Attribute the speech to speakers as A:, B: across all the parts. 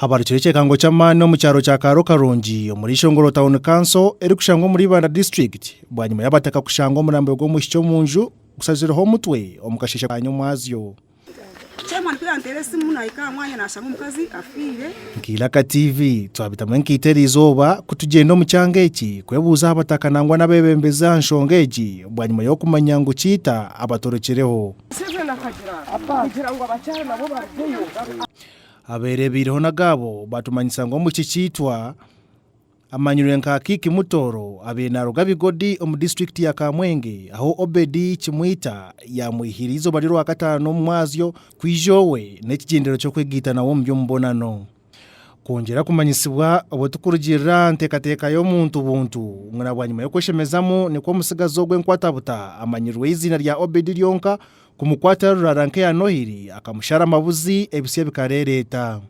A: Habarukire ekyekango ky'amaani omu kyaro kya Kaaro Karungi omuri Ishongoro Town Council erikushangwa omuri Ibanda District bwanyima y'abataka kushanga omurambo gw'omwishiki omu nju gushazireho omutwe omu kasheeshe ka nyomwazyo.
B: Nkairaka TV
A: twabitamu enkaito eri izooba kutugyenda omu kyanga eki kwebuuza aha bataka nangwa n'abeebembezi aha nshonga egi bwanyima y'okumanya ngu Kiita abatorokyereho. Abeereebeireho n'agaabo baatumanyisa ngu Omwishiki Kiitwa amanyirwe nka Kiki Mutoro abaire naaruga Bigodi omu disiturikiti ya Kamwenge ahu Obedi Kimwita yaamweihiire eizooba ry'Orwakataano omu mwazyo kwija owe n'ekigendererwa ky'okwegaita nawe omu by'omubonano. Kwongyera kumanyisibwa obwo tikurugirira aha nteekateeka y'omuntu buntu, ngu na bwanyima y'okweshemezamu nikwo omutsigazi ogwo enkwatabuta amanyirirweho eiziina rya Obedi ryonka kumukwatira ruraara nk'eya Nohiri akamushara amabuzi ebitsya bikareereeta.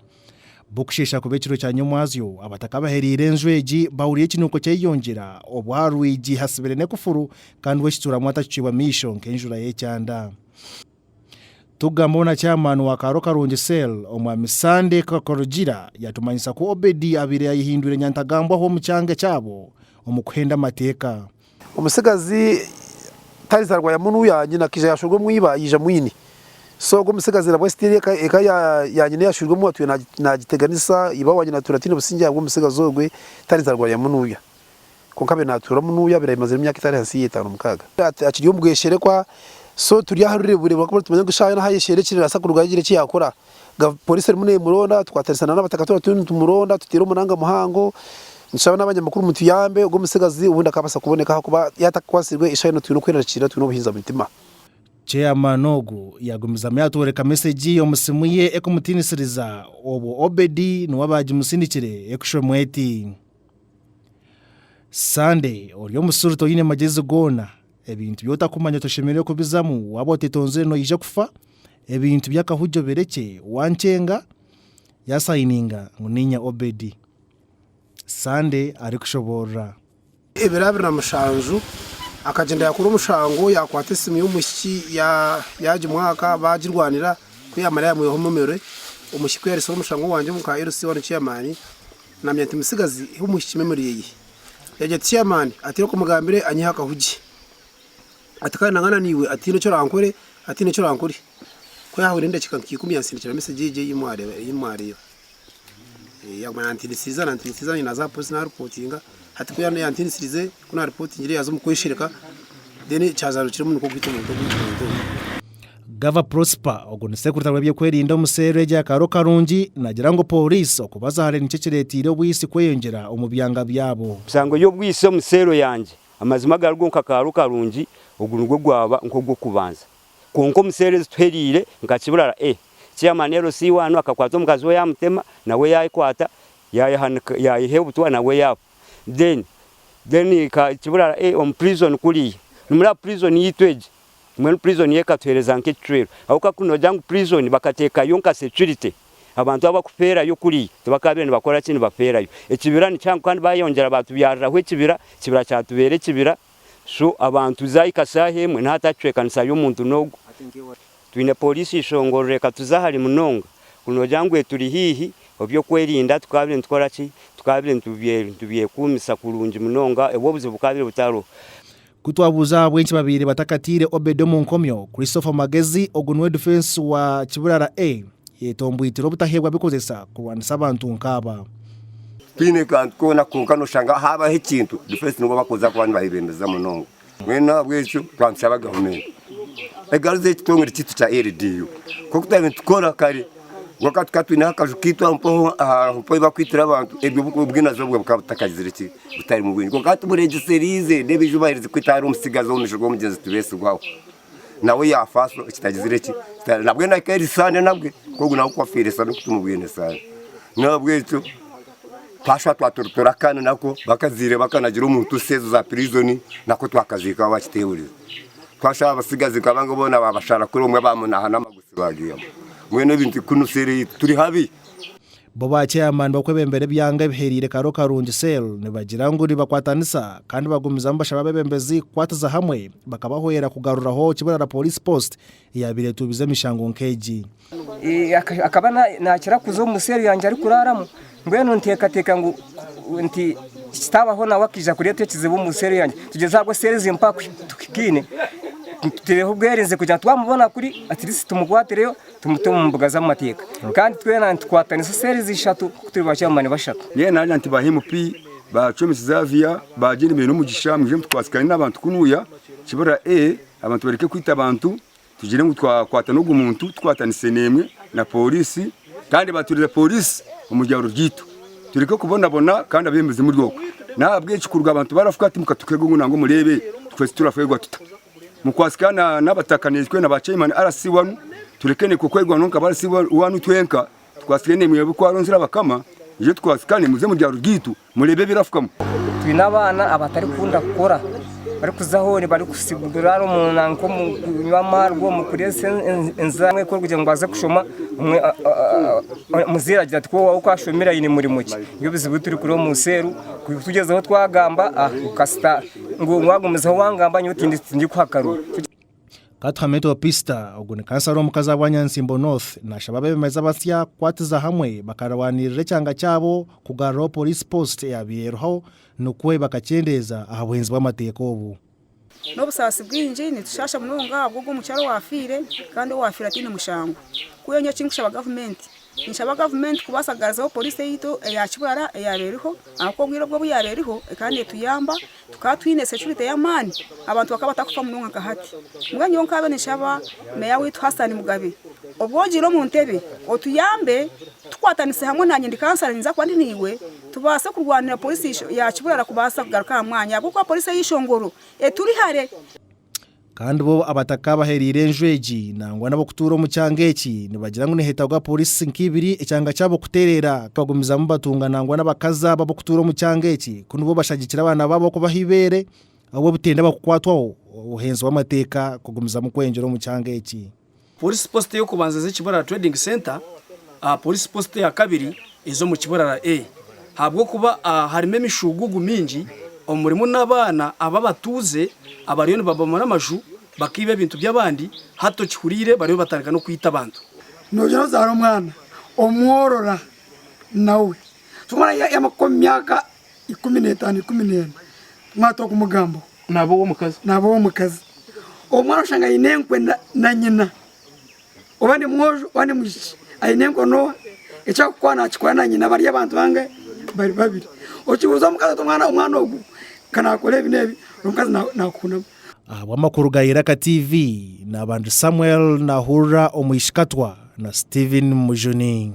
A: Bukusheesha kuba ekiro kya nyomwazyo, abataka abahereire enju egi bahuriire ekinuko ky'eiyongyera obwo aha rwigi hatsibire n'ekufuru kandi we ekituuramu atakicwirwe amaisho nk'enjura y'ekyanda. Tukugambaho na chairman wa Kaaro Karungi Cell, Omwami Sande Karugira yatumanyisa ku Obedi abaire yayehindwire nyantagambwaho omu kyanga ekyabo omu kuhenda amateeka. Omutsigazi
C: Talitha Rwayamunu ya nyina akaija yashwerwa omu iba yaija mwine. So ogwo omutsigazi nabwo still eka ya nyina eyashwerwemu atwire nagiteganisa iba wa nyina atwire atiine obusingye ahabw'omutsigazi ogwe Talitha Rwayamunu ya. kwonka abaire naatuuramu n'oyo abaire aimazire emyaka etari ahansi y'etaano mukaaga. Akiri omu bwesherekwa so turi aha rureburebu ahabw'okuba nitumanya ngu eshaaha yoona ahu ayesherire eki neebaasa kuruga yagira eki yaakora. Pooriisi erimu neemuronda, tukwatanisa n'abataka twaba turiyo nitumuronda tuteera omuranga muhango, nitushaba n'abanyamakuru mutuyambe ogwo omutsigazi obundi akaabaasa kuboneka ahabw'okuba yaaba atakwatsirwe eshaaha yoona twine okwerarikirira twine obuhinza omu mitima. Chairman
A: ogu yaagumizamu yaatworeka mesegi omu siimu ye ekumutiinisiriza obwo Obedi niwe abaagimusindikire ekushoma eti. Sande, ori omusiru toine magyezi goona, ebintu bi otakumanya toshemereire kubizamu, waaba otetonzire noija kufa, ebintu by'akahugyo birekye, wankyenga, yaasayininga ngu niinye Obedi. Sande arikushoboorora. Ebiro abiri na
C: mushanju, akagyenda yaakora omushango, yaakwata esimu y'omwishiki yaagimwaka, baagirwanira, ku yaamara yaamwihaho omumere. Omwishiki ku yaariitsire omushango gwangye omu ka LC1 Chairman, Namanya nti mutsigazi hi omwishiki memory eye yagya ati chairman ati reka omugambire anyihe akahugi ati kandi nangana naiwe ati haine eki orankore ati haine eki orankore ku yahwire endakika nka ikumi yansindikira message egyo eyi mwareba eyi mwareeba yamanya ntinitsiriza nantinitsiriza nanye naza aha police na reportinga hati ku yantinitsirize ku na reportingire yaza omu kweshereka then kyazarukiremu nikwo kuhitsya omuntu ogu omuntu ogu.
A: Gava Prosper, ogwo ni sekurita w'ebyokwerinda omu seero egyo ya Kaaro Karungi, naagira ngu pooriisi okubaza hare nikyo kireeteire obwisi kweyongyera omu byanga byabo. Nsangire obwisi omu
D: seero yangye. Amazima agarigo nka Kaaro Karungi, ogu nigwo gwaba nk'ogw'okubanza. Kwonka omu seero ezituheriire nka Kibirara A, Chairman LC waanu akakwata omukazi we yaamutema, nawe yaayekwata, yaayehanika, yaayeha obutwa nawe yaafa. Then, then Kibirara A omu prison kuriya, nimureba prison yaitu egi, Mbwenu prison yo ekatuhereza nka ekicwero ahabwokuba ku nogira ngu prison bakatekayo nka security abantu abu bakuferayo kuriya tibakabire nibakora ki nibaferayo ekibira nikihango kandi bayeyongyera batubyariraho ekibira ekibira kyatubera ekibira so abantu zahika saha emwe nahati ahakicwekanisayo omuntu nogu twine police ishongororo ekatuza hare munonga ku nogira ngu eturi hihi obyokwerinda tukabire nitukora ki tukabire nitubyekumisa kurungi munonga obu obuzibu bukabire butariho. Ku twabuuza
A: ahabw'enki babaire batakataire Obed omu nkomyo, Christopher Magezi, ogu niwe difensi wa Kibirara A, yetombwitire obutaheebwa bikozesa kurwanisa abantu nk'aba. Tihaine
E: kantu koona kwonka nooshanga haabaho ekintu difensi nibo bakuza kuba nibabebembeza munonga. Mbwenu ahabw'ekyo twanisaba gavumenti egaruze ekitongore kyaitu kya LDU nk'oku twaabaire nitukora kare. kwonka tukaba twineho akaju kaitu aho mpaho ahu barikwiitira abantu, ebyo obwinazi obwo bukaba butakagizire ki, butarimu bwingi kwonka hati bureegyeseriize, n'ebi eiju baaherize kwita ahari omutsigazi omu maisho g'omugyenzi Tibetsigwaho, nawe yaafa so kitagizire ki, nabwe nahika ahari saande nabwe nk'ogu nawe ku afiire sa n'oku tumubwine saande. N'ahabw'ekyo twashusha twaturitura akana nako bakazaire bakanagira omu ntuusi ezo za pirizoni, nako twakaziika aho bakiteebereza. Twashusha abatsigazi nk'abo boona baabashara kuri omwe baamunaaha n'amagufa. Bo ba
A: chairman b'okwebembera ebyanga ebihereire Karo Karungi Cell nibagira ngu nibakwatanisa kandi bagumizamu bashaba abebembezi kukwatiza hamwe bakabahwera kugaruraho Kiburara Police Post eyaabaire etuubize emishango nk'egi.
F: Akaba naakira kuza omu cell yangye arikuraramu Mbwenu ninteekateeka ngu nti kitaabaho nawe akaija kureeta ekizibu omu seeri yangye, tugyeze ahabwo seeri zimupe aha kuhikaine, tuteereho obwerinzi kugira ngu twamubona kuri atirisiti tumukwatireyo tumute omu mbuga z'amateeka. Kandi twena nitukwatanisa seeri ezi ishatu ku turi ba chairman bashatu. Mbwenu naagira nti ba MP,
G: ba Chwemi Xavier, ba Jane Beine Omugisha mwije mutukwatsikane n'abantu kunuya Kibira A abantu bareke kwita abantu. Tugire ngu twakwata n'ogwo muntu tukwatanise n'emwe na pooriisi kandi baatwirize pooriisi omu byaro byaitu tureke kubonabona kandi abeebembezi muri okwo. N'ahabw'ekyo kuruga abantu barafuka ati mukatukeerwa ngu nangwa mureebe tukwetse turafeerwa tuta. Mukwasika n'abataka n'enkwe na ba chairman RC wanu tureke n'ekwe kwerwaanaho nka ba RC wanu twenka, tukwasike n'emwe ab'oku Aronzire abakama, mwije tukwasikane muze omu byaro byaitu Mureebe ebirafukamu. Twine abaana
F: abatarikukunda kukora, barikuza hoona barikusibura omunda nk'omu kunywa amaarwa, omu kureetsa enzaarwa. Omwe kugira ngu aze kushoma, omuzaire agira ati, kwowaawe ku ashomire aine murimo ki? Nibyo bizibu ebi turikureeba omu nsi enu. Kutugyezaho twagamba, kasita ngu waagumizaho waagamba nyowe tindikuha akaru. Katuhameto
A: Pista, ogu ni kansara omukazi ahabwa Nyansimbo North nashaba abebembezi abasya kukwatiza hamwe bakarwanirira ekyanga kyabo kugaruraho Police Post eyabaire eriho nikwo bakakyendeeza aha buhinzi bw'amateeka obu. N'obusaasi
B: bwingi nitushaasha munonga ahabw'ogu omukyara owaafiire kandi owaafiire ataine mushango. Ku enye eki nkushaba gavumenti Ninshaba gavumenti kubaasa kugaruzaho poriisi yaitu eya Kibara eyaaba eriho ahabw'okuba obwire obwo obu yaabaire eriho ekaba neetuyamba tukaba twine securite y'amaani abantu bakaba batakufa munonga nka hati. Mbwenu nyowe nkaabe ninshaba meeya waitu Hassan Mugabe obu ogiire omu ntebe otuyambe tukwatanise hamwe naanye ndi kansara ninza kuba ndi naiwe tubaase kurwanira poriisi ya Kibara kubaasa kugaruka aha mwanya ahabw'okuba poriisi ey'eishongoro eturi hare. Kandi
A: bo abatakaabahereire enju egi nangwa n'ab'okutuura omu kyanga eki nibagira ngu niheetagwa pooriisi nka ibiri ekyanga kyabo kutereera kubagumizamu batunga nangwa n'abakazi abo ab'okutuura omu kyanga eki ku nibo bashagikire abaana baabo kubaha eibeere ahabw'obutenda bakukwatwaho obuheenzi bw'amateeka kugumizamu kweyongyera omu kyanga eki. Poliisi Post
H: ey'okubanza eze Kiburara Trading Centre aha Poliisi Post eya kabiri eze omu Kiburara A ahabw'okuba harimu emishuuguugu mingi omurimu n'abaana aba abatuuze abariyo nibabomora amaju bakaiba ebintu by'abandi hati okihuriire bariyo nibatandika n'okwita abantu. Noogira ozaara
I: omwana omworora nawe. ikumi n'etaano ikumi n'ena kumwata okumugambo naba ow'omukazi
H: naba ow'omukazi omwana oshanga aine enkwe na nyina oba ni mwojo oba ni mwishiki aine enkwe noha ekyakukora nakikora na nyina bari abantu bangahe bari babiri okibuuza omukazi oti omwana omwana ogu kanakora ebi n'ebi omukazi nakuhunamu Ahabw'amakuru
A: ga Iraka TV, Nabanju Samuel nahurira omwishikatwa na Steven Mujuni.